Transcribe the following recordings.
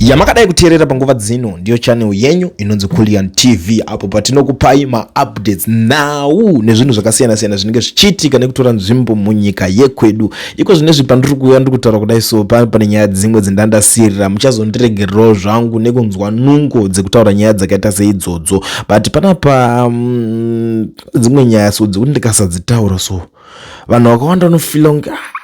yamakadai kuteerera panguva dzino ndiyo channel yenyu inonzi Kullian TV apo patinokupai maupdates nhau nezvinhu zvakasiyana siyana zvinenge zvichiitika nekutora nzvimbo munyika yekwedu iko zvinezvi pandiri kuuya ndiri kutaura kudai so pa pane nyaya dzimwe dzendandasirira muchazondiregererawo zvangu nekunzwa nungo dzekutaura nyaya dzakaita seidzodzo but panapa um, dzimwe nyaya so dzekuti ndikasadzitaura so vanhu vakawanda vanofila kunge ah,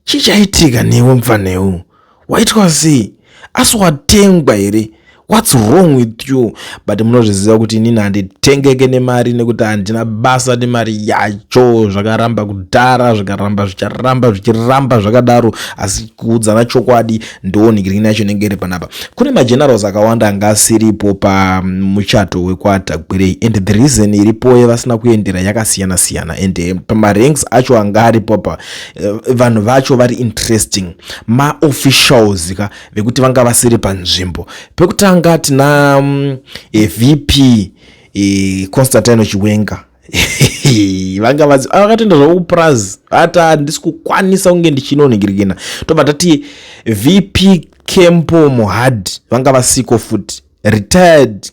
chii chaitika newe mupfanheu waitwa sei asi watengwa here whats wrong with you but munozviziva kuti inini handitengeke nemari nekuti handina basa nemari yacho zvakaramba kudhara zvikaramba zvicharamba zvichiramba zvakadaro asi kuudzana chokwadi ndoonigrini yacho inenge iri panapa kune magenerals akawanda anga asiripo pamuchato wekwaatagwirei and the reason iripoye vasina kuendera yakasiyana siyana and pamaranks acho anga aripo pa eh, vanhu vacho vari interesting maofficials ka vekuti vanga vasiri panzvimbo pekutanga tina mm, eh, vp eh, constantino chiwenga vanga vazi ah, vakatoenda zvavo kupurazi ati handisi kukwanisa kunge ndichinoningirikina tobva tati vp kempo mohad vanga vasiko futi retired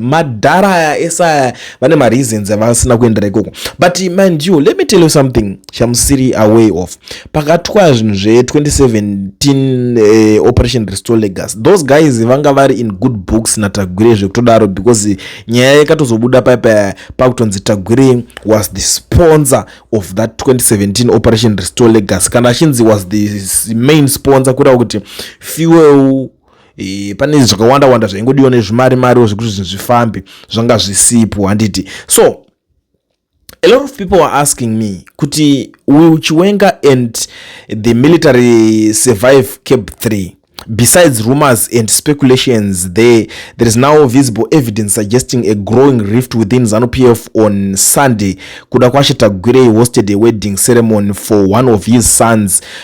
madhara aya ese aya vane mareasons avasina kuendera ikoko but mind you let me tell you something chamusiri away of pakatwa zvinhu zve2017 eh, operation restore legas those guys vanga vari in good books natagwire zvekutodaro because nyaya yakatozobuda paipa pakutonzi tagwire was the sponsor of that 2017 operation restore legas kana achinzi was the main sponsor kureva kuti fuel E, pane zvakawanda wanda zvaingodiwa nezvimari mari zvekuti zvinhu zvifambe zvanga zvisipo handiti so a lot of people are asking me kuti will chiwenga and the military survive cap 3 besides rumors and speculations there there is now visible evidence suggesting a growing rift within zanu p f on sunday kuda kwashe tagwirei hosted a wedding ceremony for one of his sons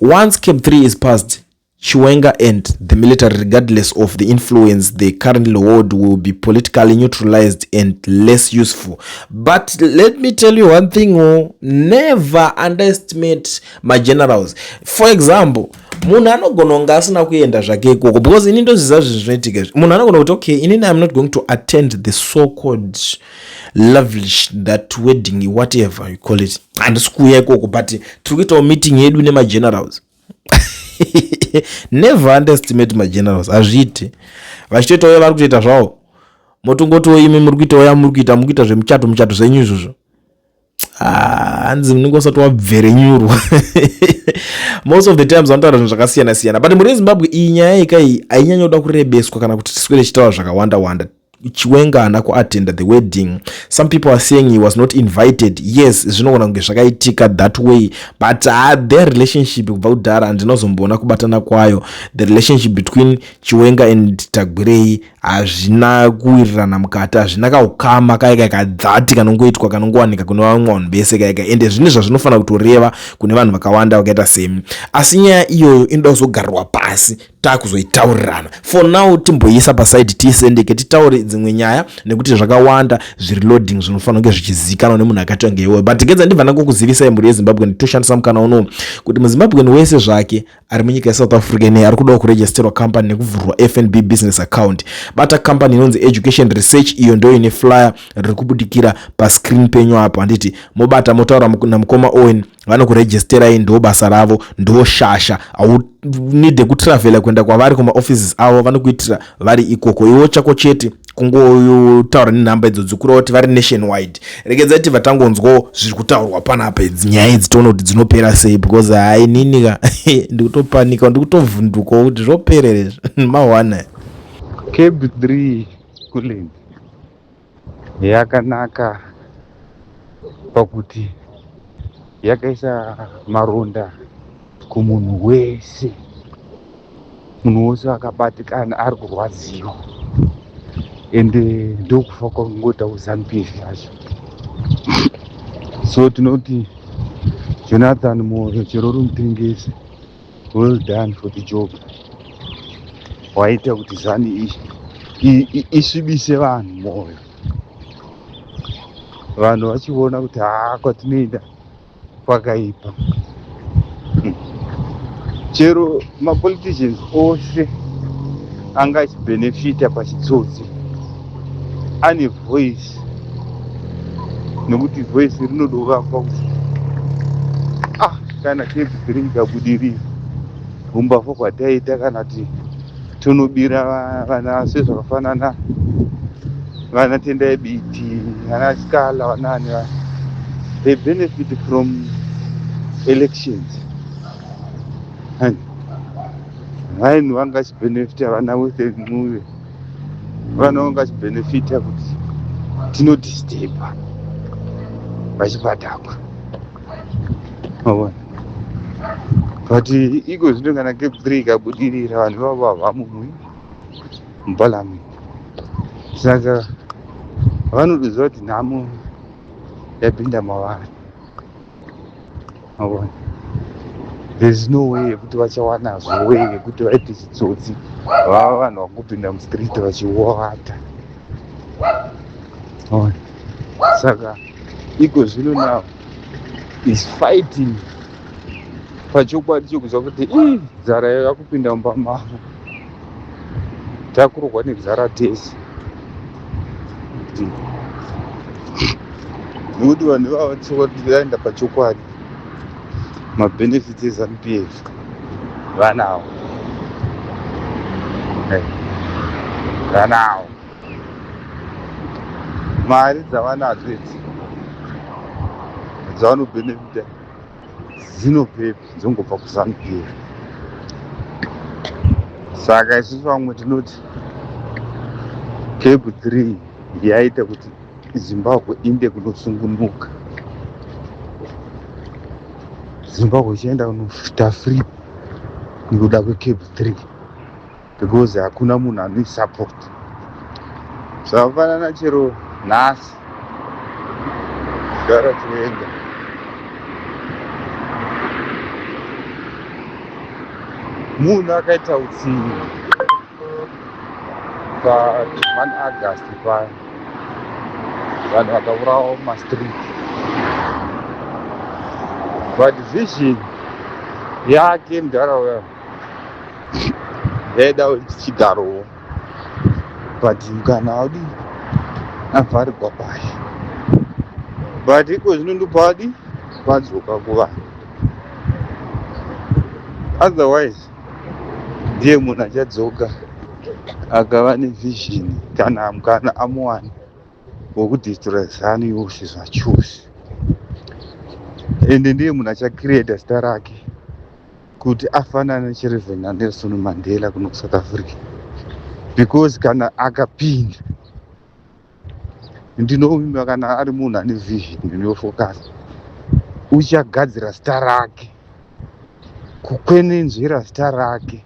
Once cap 3 is passed, Chiwenga and the military, regardless of the influence they currently hold, will be politically neutralized and less useful. But let me tell you one thing, oh, never underestimate my generals. For example, munhu anogona kunge asina kuenda zvake ikoko because ini ndoziva zvinhu zvinoitika izvi munhu anogona kuti okay inini im not going to attend the so called lovelish that wedding whatever you call it handisi kuuya ikoko but tiri kuitawo meeting yedu nemagenerals never underestimate magenerals hazviite vachitoitawo yavari kutoita zvavo motongotiwo imi muri kuitawo yamuri kuita muri kuita zvemuchato muchato zvenyu izvozvo hanzi munenge usati wabverenyurwa most of the times vanotaura zvinhu zvakasiyana siyana but mhuri yezimbabwe iyi nyaya yeka iyi hainyanya kuda kurebeswa kana kuti tiswere chitaura zvakawanda wanda chiwenga haana kuattenda the wedding some people are saying he was not invited yes zvinogona kunge zvakaitika that way but uh, their relationship kubva kudhara handinozomboona kubatana kwayo the relationship between chiwenga and tagwirei hazvina kuwirirana mukati hazvina kaukama kaye kaye kadzati kanongoitwa kanongowanika kune vamwe vanhu vese kaye kaye ende zvine zvazvinofanira kutoreva kune vanhu vakawanda vakaita semi asi nyaya iyoyo inoda kuzogarirwa pasi takuzoitaurirana for now timboiisa pasaidi tiisendeke titaure dzimwe nyaya nekuti zvakawanda zviri loading zvinofanira kunge zvichizivikanwa nemunhu akaitwa ngeiwoyo but gedza ndibva ndangokuzivisai mhuri yezimbabwe nditoshandisa mukana unowu kuti muzimbabweni wese zvake ari munyika yesouth africa ine ari kudawo kuregisterwa company nekuvhurwa fnb business account bata company inonzi education research iyo ndo ine flyer riri kubudikira pascreen penyu apo handiti mobata motaura namukoma owen vanokuregisterai ndo basa ravo ndo shasha aunide kutravela kuenda kwavari kumaoffices avo vanokuitira vari ikoko iwo chako chete kungotaura nenhamba idzo dzikura kuti vari nation wide regedza kuti vatangonzwawo zviri kutaurwa panapa idzi nyaya idzi toona kuti dzinopera sei because hai nini ka ndikutopanika ndikutovhundukawo kuti zvoperere izvi mawana keb 3 kulen yakanaka pakuti yakaisa maronda kumunhu wese munhu wose akabatikana ari kurwadziwa ende ndokufa kwakungoita uzampf yacho so tinoti jonathan moyo chero uri mutengesi well done for the job waita kuti zani isvibise vanhu moyo vanhu vachiona kuti haa kwatinoenda kwakaipa hmm. chero mapoliticians ose anga achibenefita pachitsotsi ane voice nekuti voice rinodovakwa kuti ah kana tedzi dziri kuda budirira humbavha hwataita kana kuti Tunobira vana se zvakafanana vana Tendai Biti, vana Scala, vanani vana. They benefit from elections. And vanhu vangachibenefita vana with a ncuve vana vangachibenefita kuti tinodisturba vachibatakwa Mavona. but iko zvino kana kepri ikabudirira vanhu vavo havamumwi mubhalami saka vanotoziva kuti nhamo yapinda mavari mavona there's no way yekuti vachawanazvo way yekuti vaite chitsotsi vava vanhu vakupinda mustreet vachiwata mavona saka iko zvino now is fighting pachokwadi chokuziva kuti ii nzara yayo yakupinda mumba mavo takurohwa nenzara tese nekuti vanhu ivava chokwadi vaenda pachokwadi mabenefits ezanupf vanawo vanawo mari dzavanadzo idzi dzavanobenefita dzinobvepi dzongobva kuzanu pf saka isusu vamwe tinoti kebu 3 yaita kuti zimbabwe inde kunosungunuka zimbabwe ichaenda kunoita free nekuda kwekebu 3 because hakuna munhu anoisupport zvakafanana chero nhasi gara toenda munhu akaita utsinye pa 1 august paya vanhu vakaurawa mumastreet but vision yake mudhara uya ndaida kuti tichigarowo but kana wadi avharirwa paye but iko zvino ndopa wadi vadzoka kuvanhu otherwise ndiye munhu achadzoka akava nevision kana mukana amuwana wokudestroya zanu yose zvachose ende ndiye munhu achacreata zita rake kuti afanane chireve nanelson mandela kuno kusouth africa because kana akapinda ndinovimba kana ari munhu ane vision inofocus uchagadzira zita rake kukwenenzvera zita rake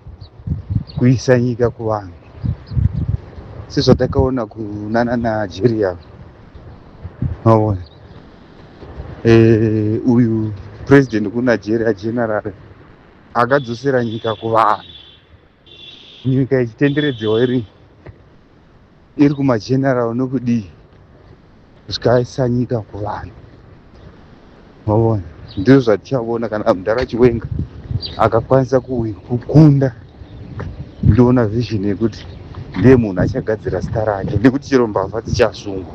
kuisa nyika kuvanhu sezvatakaona kunana najeriya maona eh, uyu president kunigeria general akadzosera nyika kuvanhu nyika ichitenderedzewa iri iri kumageneral nokudii zvikaisa nyika kuvanhu maona ndizvo zvatichaona kana mudhara chiwenga akakwanisa kukunda ndiona vision yekuti ndiye munhu achagadzira zita rake nekuti chero mbavha dzichasungwa